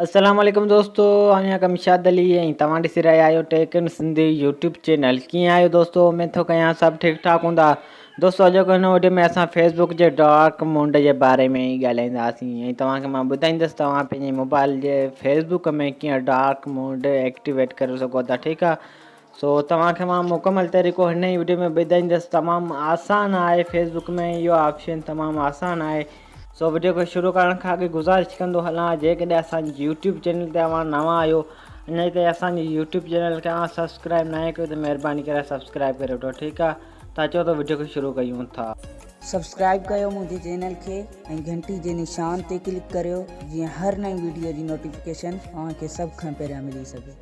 السلام عليڪم دوستو آهيان ڪمشاد علي ۽ توهان ڏسي رهيا آهيو tech in Sindhi YouTube channel ڪيئن آهيو دوستو اميد ٿو ڪيان سڀ ٺيڪ ٺاڪ هوندا دوستو اڄوڪي هن وڊيو ۾ اسان فيسبوڪ جي ڊارڪ موڊ جي باري ۾ ئي ڳالهائينداسين ۽ توهان کي مان ٻڌائيندس توهان پنهنجي موبائل جي فيسبوڪ ۾ ڪيئن ڊارڪ موڊ ايڪٽيويٽ ڪري سگهو ٿا ٺيڪ آهي سو توهان کي مان مڪمل طريقو هن ئي وڊيو ۾ ٻڌائيندس تمام آسان آهي فيس بڪ ۾ اهو آپشن تمام آسان آهي سو وڊيو کي شروع ڪرڻ کان اڳي گذارش ڪندو هلان جيڪڏهن اسان جي يوٽيوب چينل تي اوهان نوان آهيو اڃا تائين اسان جي يوٽيوب چينل کي اوهان سبسڪرائب ناهي ڪيو ته مهرباني ڪري سبسڪرائب ڪري وٺو ٺيڪ آهي ته اچو ته وڊيو کي شروع ڪيون ٿا. سبسڪرائب ڪيو منهنجي چينل کي ۽ گهنٽي جي نشان تي ڪلڪ ڪريو جيئن هر نئين وڊيو جي نوٽيفڪيشن اوهان کي سڀ کان پهريان ملي سگهي.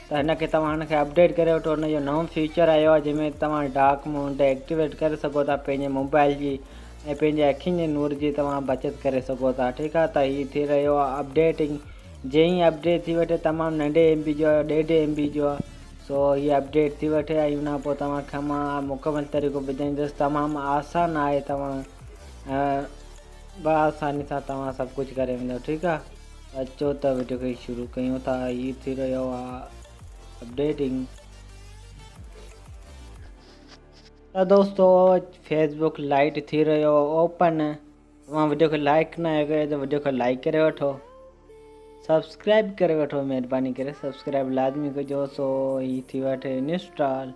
ته هن کي توهان هن کي اپڊيٽ ڪري وٺو هن جو نئون فيچر آيو آهي جنهن ۾ توهان ڊارڪ موڊ ايڪٽيويٽ ڪري سگهو ٿا پنهنجي موبائل جي ۽ پنهنجي اکين جي نور جي توهان بچت ڪري سگهو ٿا ٺيڪ آهي ته هي ٿي رهيو آهي اپڊيٽنگ جئين هي اپڊيٽ ٿي وٺي تمام ننڍي ايم بي جو ڏيڍ ايم بي جو سو هي اپڊيٽ ٿي وٺي ۽ ان پوء توهان کي مان مڪمل طريقو ٻڌائيندس تمام آسان آهي توهان به آساني سان توهان سڀ ڪجهه ڪري ويندو ٺيڪ آ ته اچو ته وڊيو کي شروع ڪيون ٿا هي ٿي رهيو آ اپڊيٽنگ ته دوستو فيس بوڪ لائٽ ٿي رهيو اوپن توهان وڊيو کي لائڪ نه آهي ڪيو ته وڊيو کي لائڪ ڪري وٺو سبسڪرائب ڪري وٺو مهرباني ڪري سبسڪرائب لازمي ڪجو سو هي ٿي وٺي انسٽال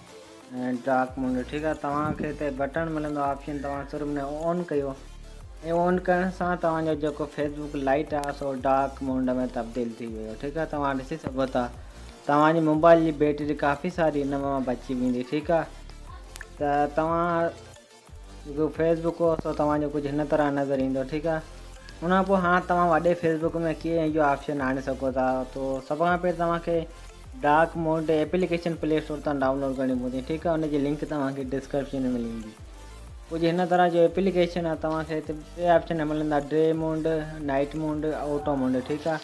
ڊارڪ موڊ ٺيڪ آهي توهان کي هتي بٽڻ ملندو آپشن توهان صرف ان کي آن ڪيو ۽ آن ڪرڻ سان توهان جو جيڪو فيس بوڪ لائيٽ آهي سو ڊارڪ موڊ ۾ تبديل ٿي ويو ٺيڪ آهي توهان ڏسي سگهو ٿا توهان جي موبائل جي بيٽري ڪافي ساري ان مان بچي ويندي ٺيڪ آهي ته توهان جيڪو فيس بڪ هو سو توهان جو ڪجهه هن طرح نظر ايندو ٺيڪ آ ان کان پوء هاڻ توهان وڏي فيس بڪ ۾ ڪيئن اهو آپشن آڻي سگهو ٿا تو سڀ کان پهرين توهان کي dark mode application play store تان ڊائونلوڊ ڪرڻي پوندي ٺيڪ آ ان جي لنڪ توهان کي ڊسڪرپشن ۾ ملي ويندي ڪجهه هن طرح جو ايپليڪيشن آ توهان کي هتي ٽي آپشن ملندا day mode night mode auto mode ٺيڪ آ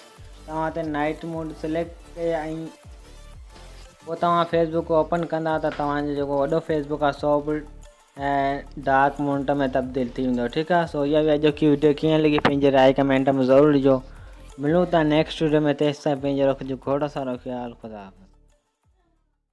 توهان هتي نائٽ موڊ سليڪٽ ڪيو ۽ پوء توهان فيس بڪ اوپن ڪندا ته توهان جو جيڪو وڏو فيس بڪ آهي سو به ڊارڪ مونٽ ۾ تبديل ٿي ويندو ٺيڪ آهي سو اها هئي اڄوڪي وڊيو ڪيئن لڳي پنهنجي راء ڪمينٽ ۾ ضرور ڏجو ملون ٿا نيڪسٽ وڊيو ۾ تيستائين پنهنجو رکجو کوڙ سارو خيال خدا حافظ.